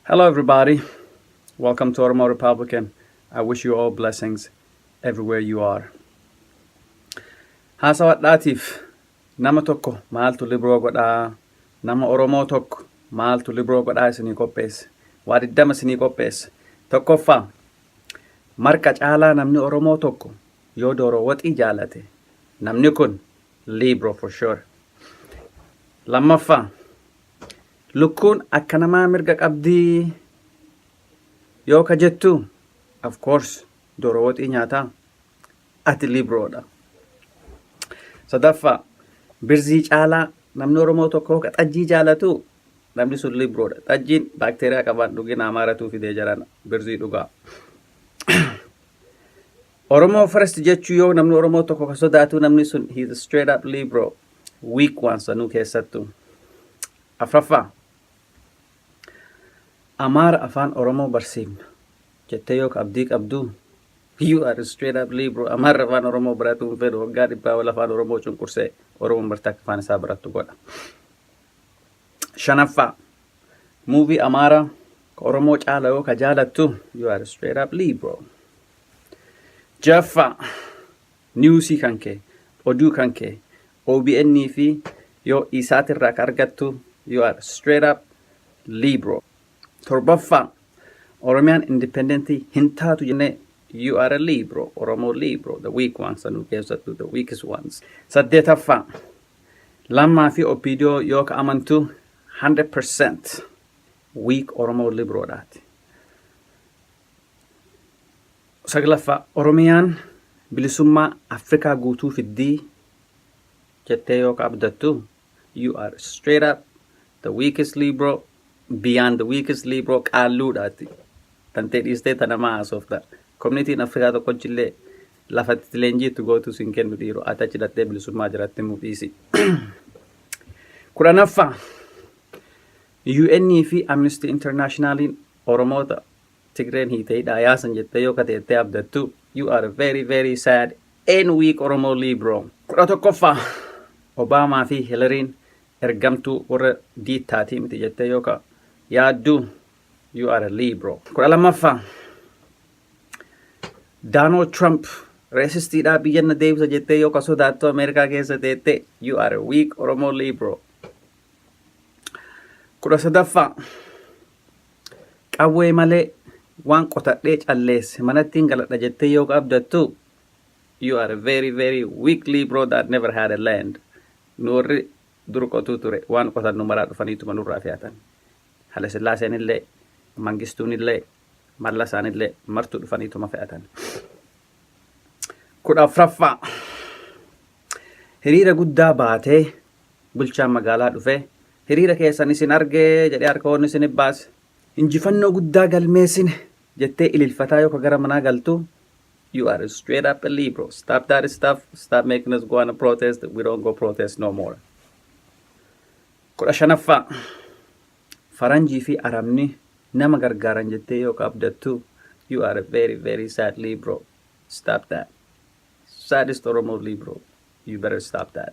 Hello everybody, welcome to Oromo Republican. I wish you all blessings everywhere you are. Haasawadhaatiif nama tokko maaltu libroo godhaa? Nama Oromoo tokko maaltu libroo godhaa isinii qopheesse? Waa diddama isinii qopheesse. Tokkoffaa, marqa caalaa namni Oromoo tokko yoo dooroo waxii jaalate, namni kun libro for sure. Lammaffaa, Lukkuun akka namaa mirga qabdii yoo ka jettu of course dooroo waxii nyaataa ati libroodha. Sadaffaa birzii caalaa namni Oromoo tokko ka xajjii jaalatu namni sun libroodha. Xajjiin baakteeriyaa qabaan dhugina amaaratuu fidee jaran birzii dhugaa. Oromoo first jechuu yoo namni Oromoo tokko ka sodaatu namni sun he is straight up libro. week waan sanuu keessattu. Afraffaa Amaara afaan Oromoo barsiifna jettee yoo ka abdii qabdu you are straight up lee bro Amaarri afaan Oromoo baratuu hin fedhu waggaa dhibbaa ol afaan Oromoo cunqursee Oromoon bartee akka afaan isaa barattu godha. Shanaffaa muuvii Amaara ka Oromoo caala yoo ka jaalattu you are straight up lee bro. Jaffaa Newsii kan kee, oduu kan kee, obn fi yoo Isat irraa ka argattu you are straight up libro. Torbaffaa, Oromiyaan independent hin taatu jennee you are a libro, Oromo libro, the weak ones sanuu keessattuu the weakest ones. Saddeetaffaa, Lammaa fi OPDO yoo ka amantu 100% weak Oromo libro dha ati. 9ffaa Oromiyaan bilisummaa Afrikaa guutuu fiddii jettee yoo ka abdattu you are straight up the weakest libro beyond the weakest libro qaalluudha ati tantee dhiistee ta namaa haasofta communitiin Afrikaa tokkochillee lafa itti leenjii itti gootuu sin kennu dhiiro ati achi dhattee bilisummaa jiratti himuu dhiisi. 10ffaa UN fi Amnesty Internationaliin Oromoota Tigreen hiite hidhaa yaasan jettee yoo kateettee abdattu you are very very sad and weak Oromo Libro. 11ffaa Obaamaa fi Hilariin ergamtuu warra diittaatii miti jettee yoo ka yaaddu you are a Libro. 12ffaa Donald Trump reesistiidhaa biyya na deebisa jettee yoo ka sodaattu Ameerikaa keessa teettee you are a weak Oromo Libro. 13ffaa Qawwee malee waan qotadhee calleesse manattiin galadha jettee yoo abdattu you are a very very weakly bro that never had a land. Nu warri dur qotuu ture waan qotannu maraa dhufaniituma nurraa fe'atan. Halesillaaseen illee, Mangistuun illee, Mallasaan illee martuu dhufaniituma fe'atan. kudha afraffaa Hiriira guddaa baatee bulchaan magaalaa dhufee Hiriira keessan isin arge jedhee harka ol isin baase. Injifannoo guddaa galmeessine! jettee ililfataa yoka gara manaa galtu You are straight up a liberal. Stop that stuff. Stop making us go on a protest. We don't go protest no more. kudha shanaffaa Faranjii fi Arabni nama gargaaran jettee yoka abdattu You are a very very sad liberal. Stop that. Saddest Oromo liberal. You better stop that.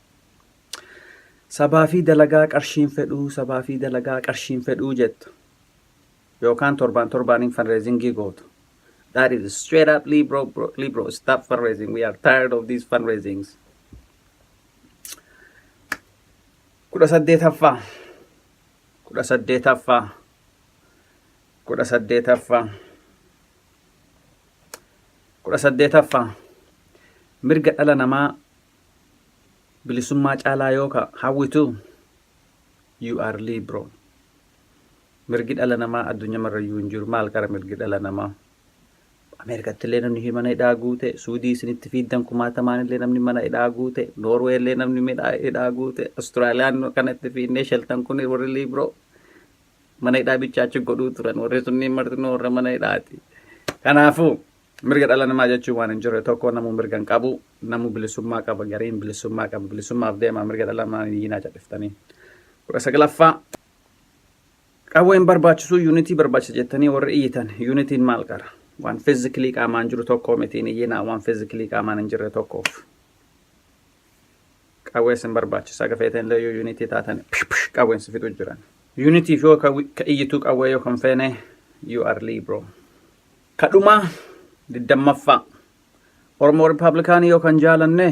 Sabaa fi dalagaa qarshiin fedhuu, sabaa fi dalagaa qarshiin fedhuu jettu. Yookaan torbaan torbaaniin fundraisingii gootu. That is straight up Libro, bro, Libro, stop fundraising. We are tired of these fundraisings. Kudha saddeetaffaa. Kudha saddeetaffaa. Kudha saddeetaffaa. Kudha saddeetaffaa. Mirga dhala namaa Bilisummaa caalaa yoo ka hawwitu you are libro. Mirgi dhala namaa addunyaa marrayyuu hin jiru. Maal qara mirgi dhala namaa? Ameerikatti illee namni hi- mana hidhaa guute, Suudii isinitti fiiddan kumaatamaan illee namni mana hidhaa guute, Noorwee illee namni midhaa hidhaa guute, Austraaliyaan kanatti fiinnee sheltan kun warri liibroo mana hidhaa bichaa achi godhuu turan. Warri sunniin martinuu warra mana hidhaati. Kanaafuu Mirga dhala namaa jechuun waan hin jirre tokko namuu mirga hin qabu. Namuu bilisummaa qaba. Gariin bilisummaa qaba. Bilisummaaf deemaa mirga dhala namaa hin iyyiinaa cadhiftanii. 19ffaa Qawwee hin barbaachisuu yuunitii barbaachisa jettanii warri iyyitan yuunitiin maal qara? Waan fiizikilii qaamaan jiru tokko miti hin iyyinaa waan fiizikilii qaamaan hin jirre tokkoof. Qawwee sin barbaachisa haga feeteen illee yoo yuunitii taatan pish pish qawween si fixu jiran. Yuunitiif yoo ka iyyituu qawwee yoo kan feene you are liberal. Ka dhumaa, 20ffaa. Oromoo Rippaabilikaanii yoo kan jaalanne,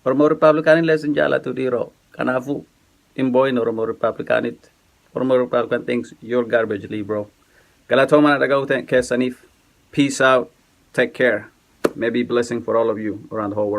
Oromoo Rippaabilikaanii illee sin jaalatu dhiiroo. Kanaafuu, hin boo'in Oromoo Rippaabilikaaniitti. Oromoo Rippaabilikaan thinks you're garbage Lee bro. Galatooma na dhaga'uu te- keessaniif. Peace out. Take care. May be blessing for all of you around the whole world.